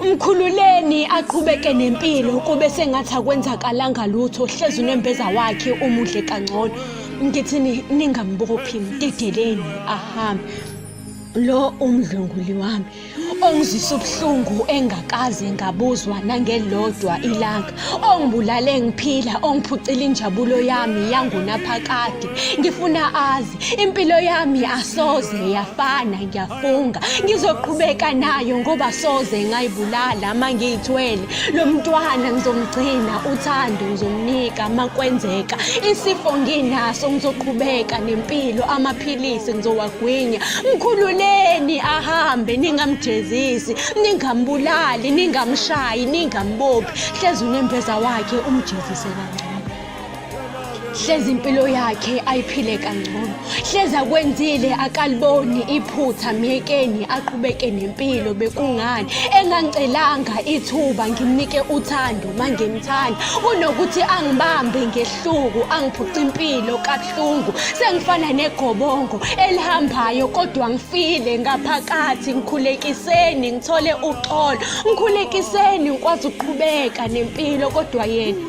Mkhululeni aqhubeke nempilo kube sengathi akwenzakalanga lutho hlezi unembeza wakhe umudle kangcono ngithini ningambophi mdedeleni ahambe lo umdlunguli wami ongizisa ubuhlungu engakaze ngabuzwa nangelodwa ilanga ongibulale ngiphila ongiphucile injabulo yami yangunaphakade ngifuna azi Impilo yami asoze yafana ngiyafunga ngizoqhubeka nayo ngoba soze ngayibulala uma ngiyithwele lo mntwana ngizomgcina uthando ngizomnika uma kwenzeka isifo nginaso ngizoqhubeka nempilo amaphilisi ngizowagwinya mkhululeni ahambe ningamjezisi ningambulali ningamshayi ningambophi hlezi unembeza wakhe umjezise kancane hlezi impilo yakhe ayiphile kangcono hlezi akwenzile akaliboni iphutha myekeni aqhubeke nempilo bekungani engangicelanga ithuba ngimnike uthando mangimthanda kunokuthi angibambe ngehluku angiphuce impilo kabuhlungu sengifana negobongo elihambayo kodwa ngifile ngaphakathi ngikhulekiseni ngithole uxolo ngikhulekiseni ngikwazi ukuqhubeka nempilo kodwa yena